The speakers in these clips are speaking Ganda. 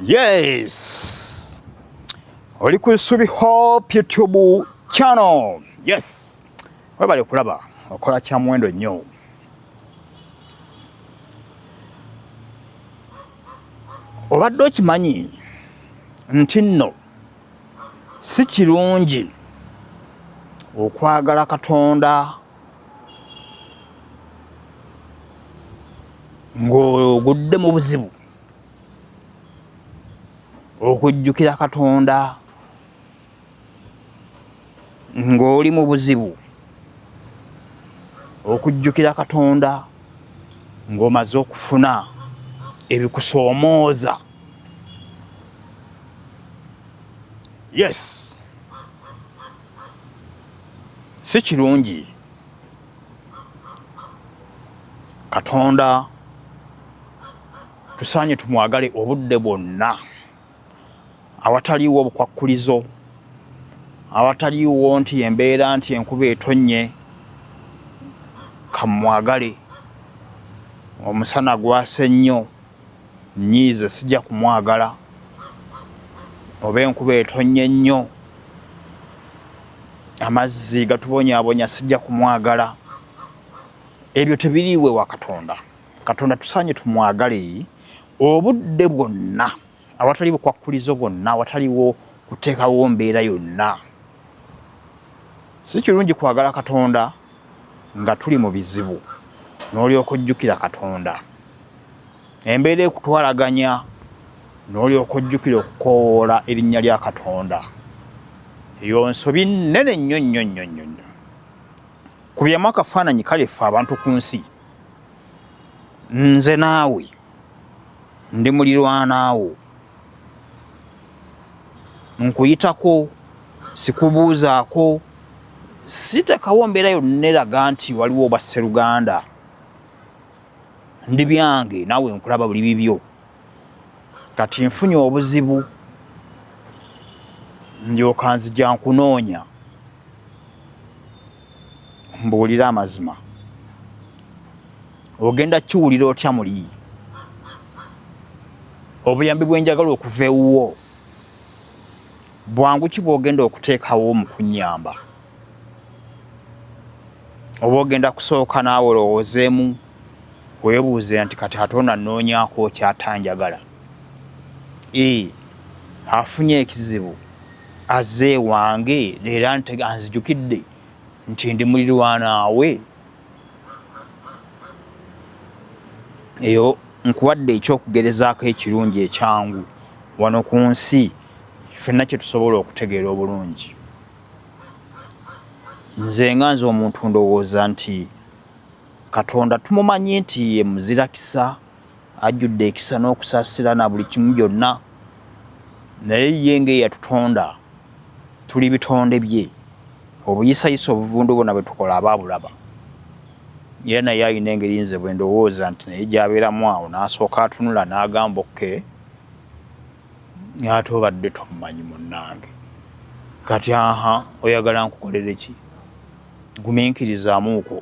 Yes. Oli ku Subi Hope YouTube channel. Yes. Webale kulaba okola kya muwendo nnyo. Obadde okimanyi nti nno si kirungi okwagala Katonda ng'ogudde mu buzibu. okujjukira katonda ng'oli mu buzibu okujjukira katonda ng'omaze okufuna ebikusoomooza yes si kirungi katonda tusaanye tumwagale obudde bwonna awataliiwo obukwakkulizo awataliiwo nti embeera nti enkuba etonnye kamwagale omusana gwase nnyo nyiize sijja kumwagala oba enkuba etonye nnyo amazzi gatubonyabonya sijja kumwagala ebyo tebiriiwe wa katonda katonda tusaanye tumwagale obudde bwonna awatali bukwakkulizo bwonna awataliwo kuteekawo mbeera yonna si kirungi kwagala katonda nga tuli mu bizibu n'olyoka ojjukira katonda embeera ekutwalaganya n'olyoka ojjukira okukoowoola erinnya lya katonda eyo nsobi nnene nnyo nnyo nnyo nnyo nnyo kubyamu akafaananyi kale ffe abantu ku nsi nze naawe ndi mulirwanaawo nkuyitako sikubuuzaako sitekawo mbeera yonna eraga nti waliwo oba sseruganda ndi byange naawe nkulaba buli bibyo kati nfunye obuzibu ndyoka nzija nkunoonya mbuulira amazima ogenda kiwulira otya muli obuyambi bwenjagala okuva ewuwo bwangu ki bwogenda okuteekawo mu kunyamba oba ogenda kusooka naawe olowoozeemu weebuuze nti kati ate ono annoonyaako kyatanjagala ee afunye ekizibu aze wange leero ntega anzijukidde nti ndi mulirwanaawe eyo nkuwadde ekyokugerezaako ekirungi ekyangu wano ku nsi fenna kyetusobola okutegeera obulungi nze nga nze omuntu ndowooza nti katonda tumumanyi nti ye muzirakisa ajjudde ekisa n'okusaasira na buli kimu byonna naye ye ng'eyatutonda tuli bitonde bye obuyisayisa obuvundu bona bwe tukola aba abulaba era naye alina engeri nze bwe ndowooza nti naye gyabeeramu awo n'asooka atunula n'agamba okke ate obadde tomumanyi munnange kati aha oyagala nkukolere ki gumiinkirizamuuko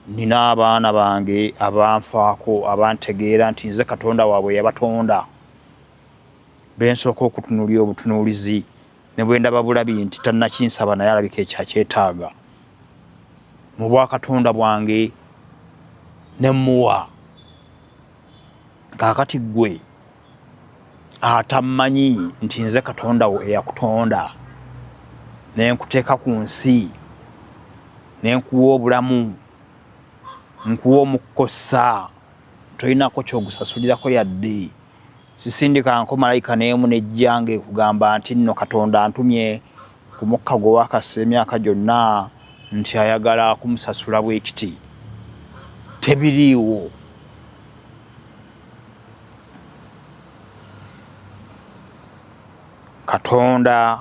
nina abaana bange abanfaako abantegeera nti nze katonda waabwe yabatonda bensooka okutunuulira obutunuulizi ne bwendaba bulabi nti tannakinsaba naye alabika ekyakyetaaga mu bwakatonda bwange ne muwa kaakati ggwe atammanyi nti nze katonda wo eyakutonda ne nkuteeka ku nsi ne nkuwa obulamu nkuwa omukkossa tolinako kyogusasulirako yadde sisindikanko malayika neemu nejjanga ekugamba nti nno katonda antumye ku mukka gwe wakassa emyaka gyonna nti ayagala kumusasula bwekiti tebiriiwo katonda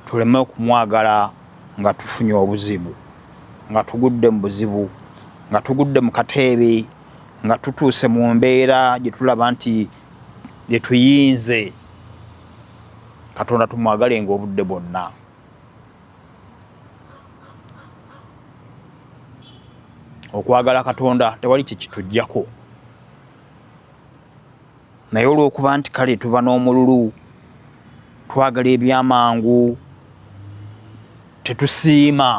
tuleme okumwagala nga tufunye obuzibu nga tugudde mu buzibu nga tugudde mu kateebe nga tutuuse mu mbeera gyetulaba nti gyetuyinze katonda tumwagalenga obudde bwonna okwagala katonda tewali kyekitujjako naye olwokuba nti kale tuba n'omululu twagala ebyamangu tetusiima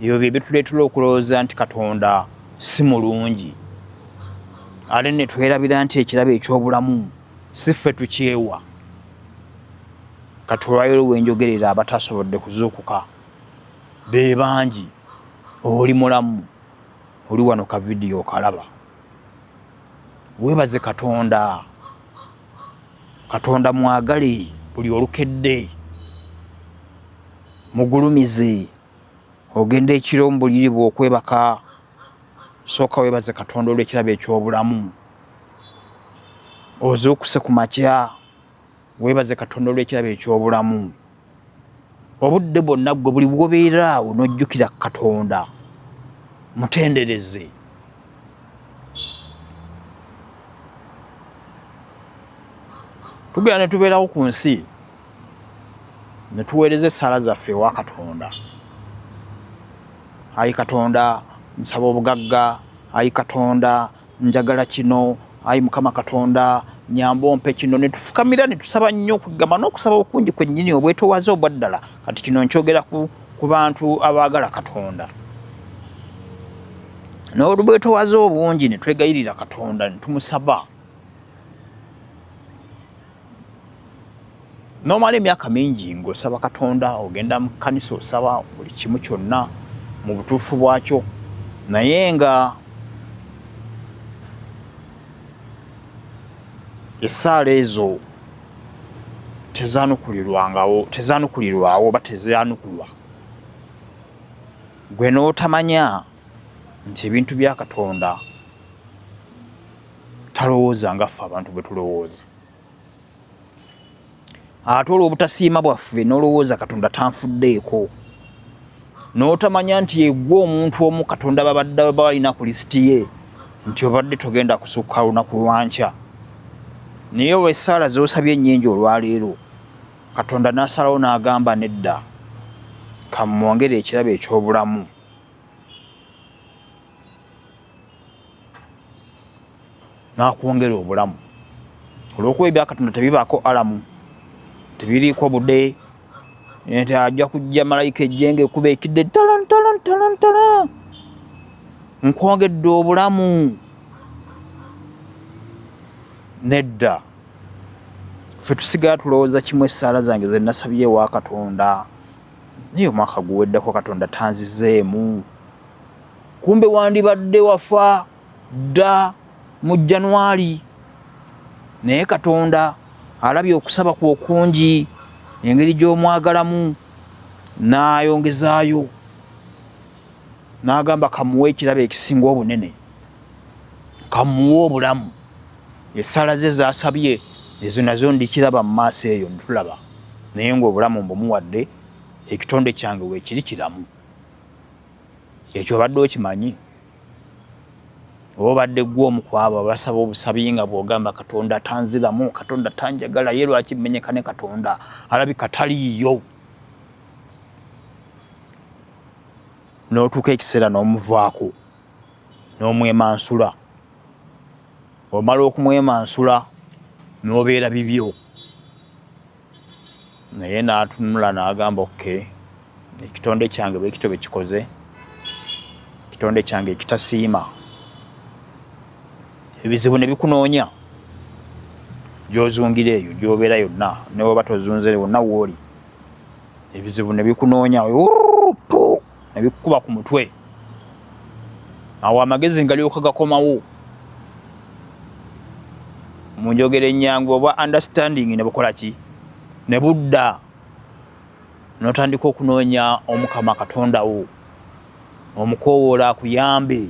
ebyo bye bituleetera okulowooza nti katonda si mulungi ate ne twerabira nti ekirabo eky'obulamu si ffe tukyewa katulwayiro wenjogerera abatasobodde kuzuukuka be bangi oli mulamu oli wano ka vidiyo okalaba webaze katonda katonda mwagale buli olukedde mugulumize ogenda ekiro mubuliri bwe okwebaka sooka webaze katonda olwekirabo ekyobulamu ozuukuse ku makya webaze katonda olwekirabo ekyobulamu obudde bwonna gwe buli bwobeeraawo nojjukira katonda mutendereze tugenda netubeerawo ku nsi ne tuweereza essaala zaffe ewa katonda ayi katonda nsaba obugagga ayi katonda njagala kino ayi mukama katonda nyamba ompe kino ne tufukamira ne tusaba nnyo okugamba n'okusaba okungi kwennyini obwetowaze obwa ddala kati kino nkyogera ku, ku bantu abaagala katonda n'olubwetowaze obungi ne twegayirira katonda ne tumusaba nomala emyaka mingi ng'osaba katonda ogenda mu kkanisa osaba buli kimu kyonna mu butuufu bwakyo naye nga essaala ezo tezanukulirwangawo tezanukulirwawo oba tezanukulwa gwe n'otamanya nti ebintu bya katonda talowooza nga ffe abantu bwe tulowooza ate olw'obutasiima bwaffe n'olowooza katonda tanfuddeeko n'otamanya nti egwe omuntu omu katonda babadde balina ku lisiti ye nti obadde togenda kusukka lunaku lwankya naye olw'essaala z'osabye ennyingi olwaleero katonda n'asalawo n'agamba nedda kamwongere ekirabo eky'obulamu nakwongera obulamu olwokuba ebyakatonda tebibaako alamu tebiriiko bude nti ajja kujja malayika ejjenga ekuba ekidde talantalantalantala nkwongedde obulamu nedda fe tusigala tulowooza kimu essaala zange zenasabye ewa katonda naye omwaka guweddeko katonda tanzizeemu kumbe wandibadde wafa dda mu januari naye katonda alabye okusaba ku okungi engeri gy'omwagalamu n'ayongezaayo n'agamba kamuwe ekirabo ekisinga obunene kamuwe obulamu esala ze zasabye ezo nazo ndikiraba mu maaso eyo ntulaba naye ngaobulamu mbumuwadde ekitonde kyange weekiri kiramu ekyo obadde okimanyi oba obadde gwe omu kwabo abasaba obusabi nga bwogamba katonda tanziramu katonda tanjagala ye lwaki menyeka ne katonda alabi kataliiyo n'otuuka ekiseera n'omuvaako n'omwemansula omala okumwemansula n'obeera bibyo naye n'atunula n'agamba oke ekitonde kyange bwekito bwe kikoze ekitonde kyange ekitasiima ebizibu ne bikunoonya gyozungira eyo gyobeera yonna newaba tozunzire wonna wooli ebizibu ne bikunoonya nebikukuba ku mutwe awo amagezi ngalyoka gakomawo mu njogera ennyangu obwa understanding ne bukola ki ne budda n'otandika okunoonya omukama katonda wo omukoowoola akuyambe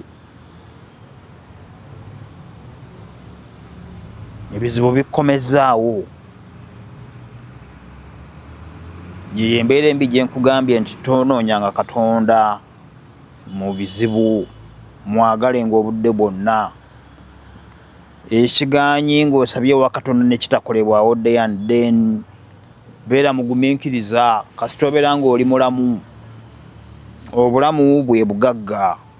ebizibu bikkomezaawo yeyo embeera embi gyenkugambye nti tonoonyanga katonda mu bizibu mwagale ngaobudde bwonna ekiganyi ngaosabye wa katonda nekitakolebwawo dayan then beera mugumiikiriza kasita obeera ngaoli mulamu obulamu bwe bugagga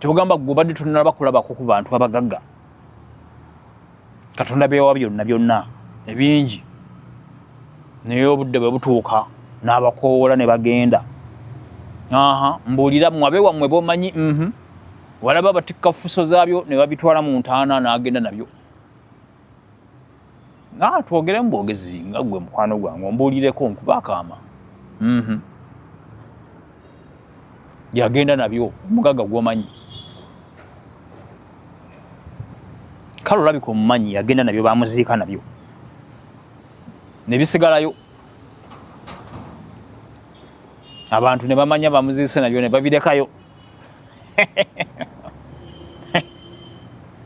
kyogamba gwe obadde tonalaba kulabako ku bantu abagagga katonda bewa byonna byonna ebingi naye obudde bwe butuuka n'abakoowola ne bagenda aha mbuulira mwabe wammwe bomanyi mhm. walaba batikka fuso zaabyo ne babitwala mu ntaana n'agenda nabyo nga twogere mu bwogezi nga gwe mukwano gwange ombuulireko nkuba akaama mhm. yagenda nabyo omugagga gwomanyi kale olabika omumanyi yagenda nabyo bamuziika nabyo nebisigalayo abantu nebamanya bamuziise nabyo nebabirekayo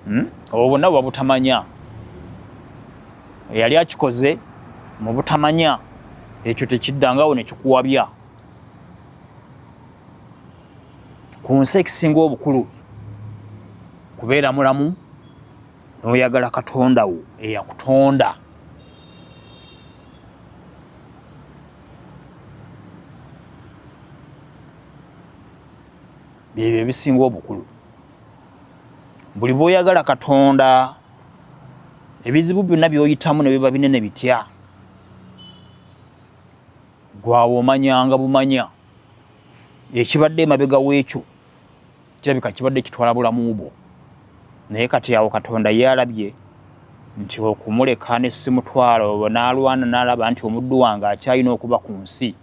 hmm? obwo bonna buba butamanya eyali akikoze mu butamanya ekyo tekiddangawo nekikuwabya ku nsi ekisinga obukulu kubeera mulamu n'oyagala katonda wo eyakutonda byebyo ebisinga obukulu buli bwoyagala katonda ebizibu byonna byoyitamu nebiba binene bitya gwawo omanyanga bumanya ekibadde emabega wekyo kirabika kibadde kitwala bulamu bwo naye kati awo katonda yalabye nti okumuleka nesimutwalo nalwana nalaba nti omuddu wange akyalina okuba ku nsi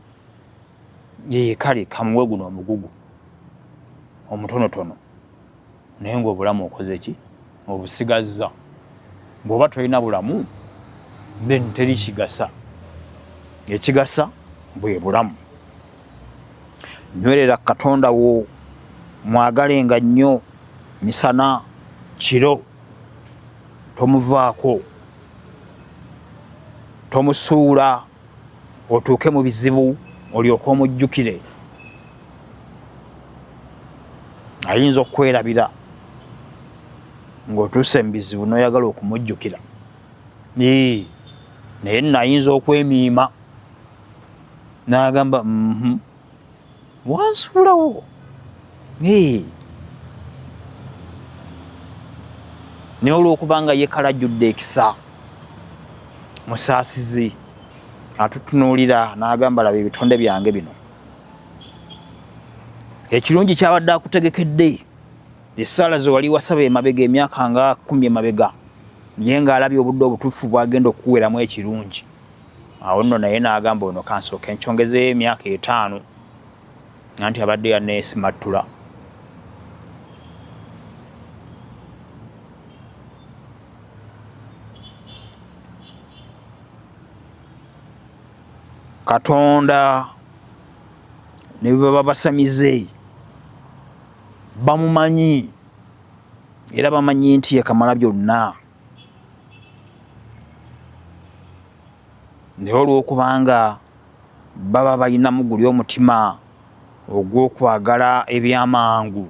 yeye kale kamuwe guno omugugu omutonotono naye ngaobulamu okoze ki obusigazza bwoba tolina bulamu then teri kigasa ekigasa bwe bulamu nywerera katonda wo mwagale nga nnyo misana kiro tomuvaako tomusuula otuuke mu bizibu olyoke omujjukire ayinza okukwerabira ng'otuuse mu bizibu n'oyagala okumujjukira naye nno ayinza okwemiima n'agamba mhm, wansuulawo naye olwokubanga yekalajjudde ekisa musaasizi atutunuulira n'agamba laba ebitonde byange bino ekirungi kyabadde akutegekedde esaala zewali wasaba emabega emyaka nga kumi emabega ye ng'alabye obudde obutuufu bwagenda okukuweramu ekirungi awo nno naye n'agamba ono kansooke nkyongezeyo emyaka etaano nanti abadde yaneesimattula katonda ne bwe baba basamize bamumanyi era bamanyi nti yekamala byonna naye olw'okubanga baba balinamu guli omutima ogw'okwagala ebyamangu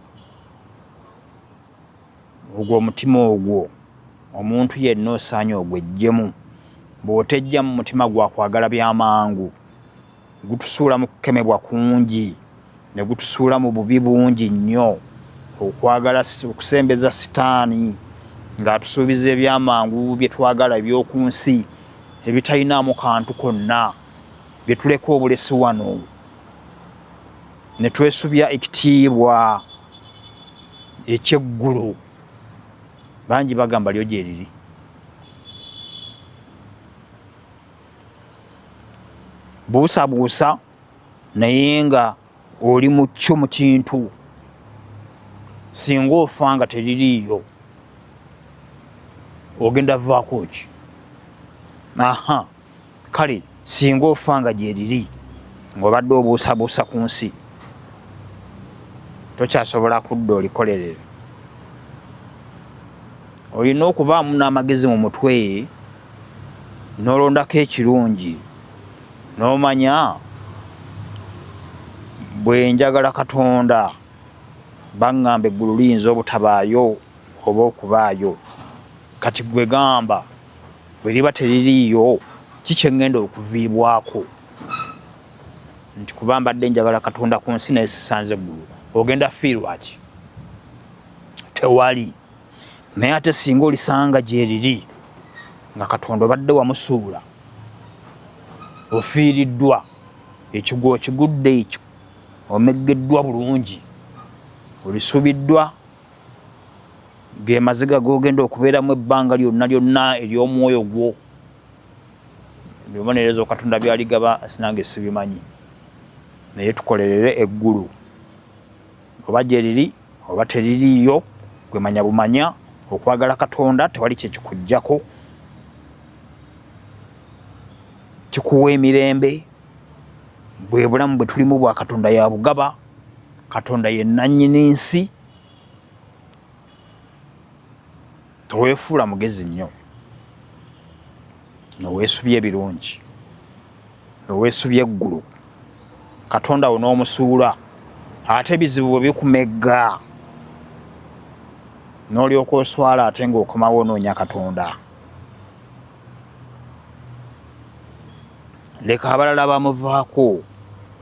ogwo omutima ogwo omuntu yenna osaanye ogwejjemu bw'otejja mu mutima gwakwagala byamangu gutusuula mu kukemebwa kungi ne gutusuula mu bubi bungi nnyo okwagala okusembeza sitaani ng'atusuubiza ebyamangu bye twagala eby'oku nsi ebitalinaamu kantu konna bye tuleka obulesi wano ne twesubya ekitiibwa ekyeggulu bangi bagamba lyo gyeriri buusabuusa naye nga oli mukyo mu kintu singa ofa nga teririiyo ogenda vaako ki aha kale singa ofa nga gyeriri ngaobadde obuusabuusa ku nsi tokyasobola kudda olikolerere olina okubaamu n'amagezi mu mutwe nolondako ekirungi nomanya bwenjagala katonda baŋŋamba eggulu liyinza obutabaayo oba okubaayo kati gwe gamba bwe liba teririiyo kikyeŋŋenda okuviibwako nti kuba mbadde njagala katonda ku nsi naye sisanze eggulu ogenda fiirwaki tewali naye ate singa olisanga gyeriri nga katonda obadde wamusuula ofiiriddwa ekigwo okigudde ekyo omeggeddwa bulungi olisubiddwa gemaziga gogenda okubeeramu ebbanga lyonna lyonna ery'omwoyo gwo bibonerezo katonda byaligaba sinange sibimanyi naye tukolerere eggulu oba gyeriri oba teririiyo gwe manya bumanya okwagala katonda tewali kyekikujjako kikuwa emirembe bwe bulamu bwe tulimu bwa katonda ya bugaba katonda ye nannyini nsi Teweefuula mugezi nnyo noweesubya ebirungi noweesubya eggulu katonda wo n'omusuula ate ebizibu bwe bikumegga n'olyoka oswala ate ng'okomawo onoonya katonda leka abalala bamuvaako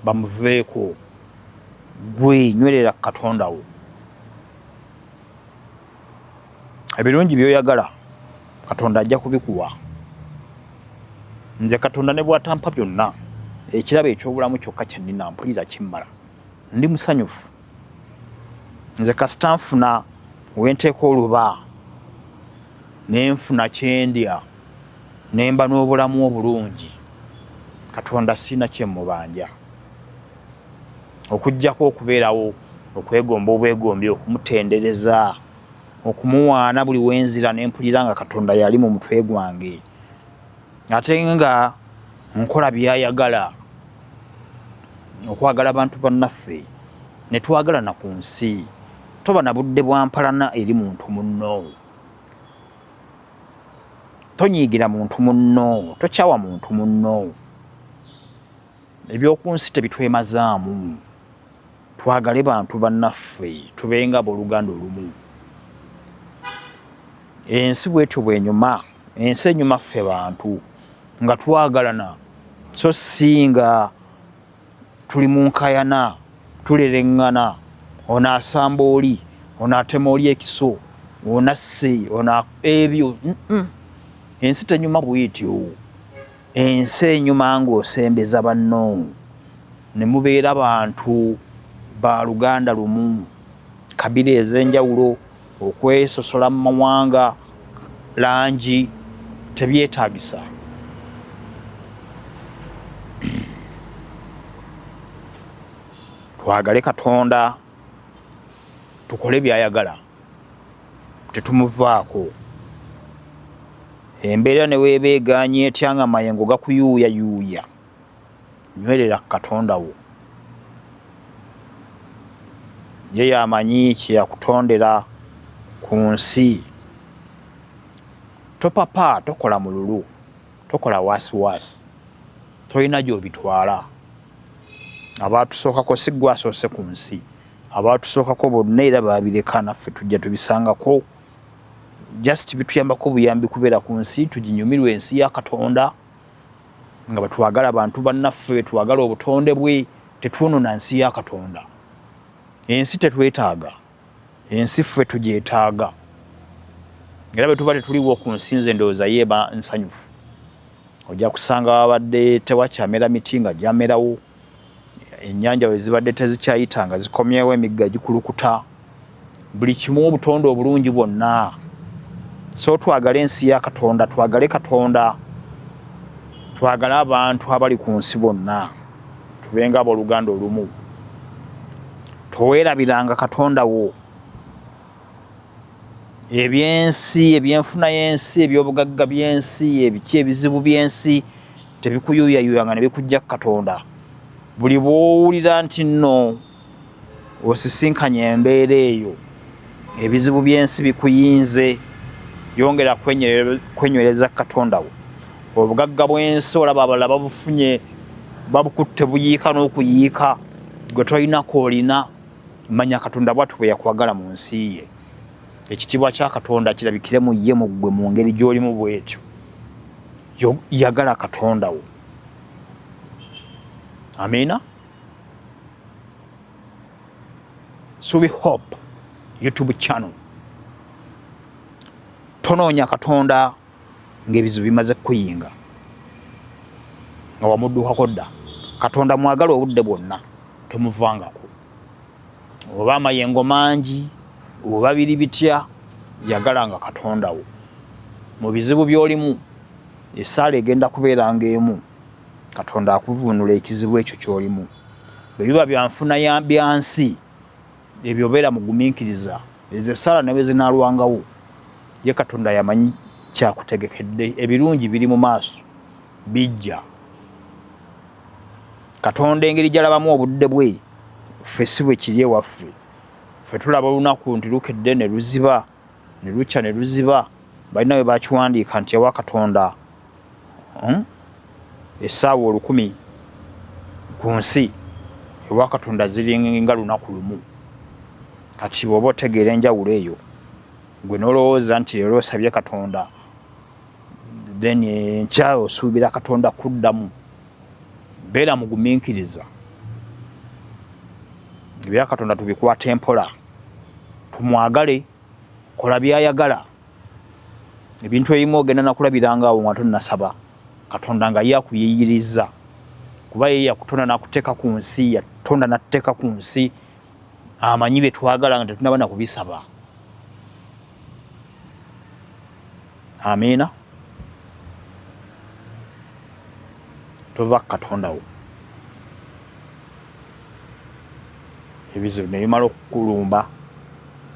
bamuveeko gwe nywerera ku katonda wo ebirungi byoyagala katonda ajja kubikuwa nze katonda ne bwatampa byonna ekirabo ekyobulamu kyokka kyenina mpulira kimmala ndi musanyufu nze kasita nfuna wenteeka oluba nenfuna kyendya nemba n'obulamu obulungi katonda siina kyemubanja okujjako okubeerawo okwegomba obwegombi okumutendereza okumuwaana buli wenzira nempulira nga katonda yali mu mutwe gwange ate nga nkola byayagala okwagala abantu bannaffe netwagalana ku nsi toba na budde bwa mpalana eri muntu munno tonyiigira muntu munno tokyawa muntu munno Eby'oku nsi tebitwemazaamu. Twagale bantu bannaffe tubenga abooluganda olumu. Ensi bwetyo bwenyuma, ensi enyuma ffe bantu nga twagalana so si nga tuli mu nkayana tulereŋŋana ono asamba oli ono atema oli ekiso ono asse ono ebyo ensi tenyuma bwetyo. ensi enyuma ng'osembeza banno ne mubeera bantu ba luganda lumu kabila ez'enjawulo okwesosola mu mawanga langi tebyetaagisa twagale katonda tukole byayagala tetumuvaako embeera ne weeba egaanye etya nga mayengo gakuyuuyayuuya nywerera ku katonda wo ye yamanyi kyeyakutondera ku nsi topapa tokola mululu tokola wasiwasi tolina gyobitwala abaatusookako si gwasoose ku nsi abaatusookako bonna era baabireka naffe tujja tubisangako just bituyambako buyambi kubeera ku nsi tuginyumirwa ensi ya katonda nga bwetwagala abantu bannaffe bwetwagala obutonde bwe tetwonona nsi ya katonda ensi tetwetaaga ensi ffe tugyetaaga era bwe tuba tetuliwo ku nsi nze ndowooza yeeba nsanyufu ojja kusanga wabadde tewakyamera miti nga gyamerawo ennyanja bwe zibadde tezikyayita nga zikomyewo emigga gikulukuta buli kimu obutonde obulungi bwonna so twagale ensi ya katonda twagale katonda twagale abantu abali ku nsi bonna tubenga abooluganda olumu toweerabiranga katonda wo ebyensi ebyenfuna y'ensi ebyobugagga by'ensi ebiki ebizibu by'ensi tebikuyuyayuya nga ne bikujja ku katonda buli bwowulira nti nno osisinkanye embeera eyo ebizibu by'ensi bikuyinze yongera kwenywereza katonda wo obugagga bw'ensi olaba abalala babufunye babukutte buyiika n'okuyiika gwe tolinako olina manya katonda bwatu bwe yakwagala mu nsi ye ekitiibwa kya katonda kirabikire mu ye mu ggwe mu ngeri gy'olimu bwetyo yagala katonda wo amiina subi hope youtube channel tonoonya katonda ng'ebizibu bimaze kukuyinga nga wamuddukako dda katonda mwagala obudde bwonna tomuvangako oba amayengo mangi oba biri bitya yagala nga katonda wo mu bizibu byolimu esaala egenda kubeera nga emu katonda akuvunula ekizibu ekyo kyolimu bwe biba byanfuna byansi ebyo obeera mugumiikiriza ezo esaala ne bwe zinaalwangawo ye katonda yamanyi kyakutegekedde ebirungi biri mu maaso bijja katonda engeri gyalabamu obudde bwe ffe si bwe kiri ewaffe ffe tulaba olunaku nti lukedde ne luziba ne lukya ne luziba balina we bakiwandiika nti ewa katonda hmm? esaawa olukumi ku nsi ewa katonda ziringa lunaku lumu kati bwoba otegeera enjawulo eyo gwe nolowooza nti leero osabye katonda then enkya osuubira katonda kuddamu beera mugumiikiriza ebya katonda tubikwata empola tumwagale kola byayagala ebintu ebimu ogenda nakulabiranga awo nga tonasaba katonda nga ye akuyiyiriza kuba ye yakutonda nakuteeka ku nsi yatonda natuteeka ku nsi amanyi byetwagala nga tetunaba nakubisaba amiina tova kukatondawo ebizibu nebimala okukulumba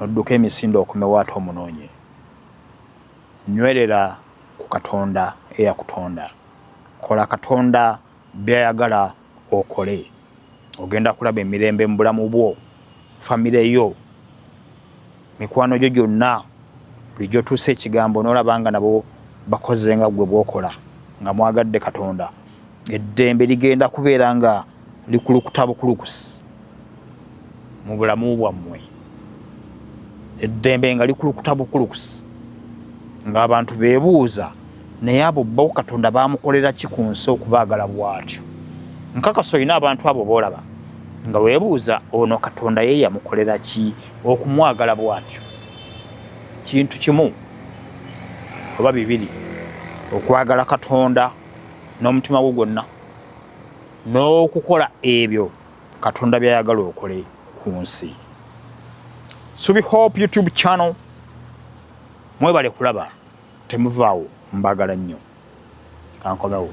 nodduka emisinde okomewo ate omunoonye nywerera ku katonda eyakutonda kola katonda byayagala okole ogenda kulaba emirembe mu bulamu bwo famire yo mikwano gyo gyonna buli gyotuusa ekigambo nolaba nga nabo bakoze nga gwe bwokola nga mwagadde katonda eddembe ligenda kubeera nga likulukuta bukulukusi mu bulamu bwammwe eddembe nga likulukuta bukulukusi ng'abantu beebuuza naye abo bo katonda baamukolera ki ku nsi okubaagala bwatyo nkakasa olina abantu abo boolaba nga weebuuza ono katonda ye yamukolera ki okumwagala bwatyo kintu kimu oba bibiri okwagala katonda n'omutima gwo gwonna n'okukola ebyo katonda byayagala okole ku nsi subi hope youtube channel mwebale kulaba temuvaawo mbagala nnyo kankomewo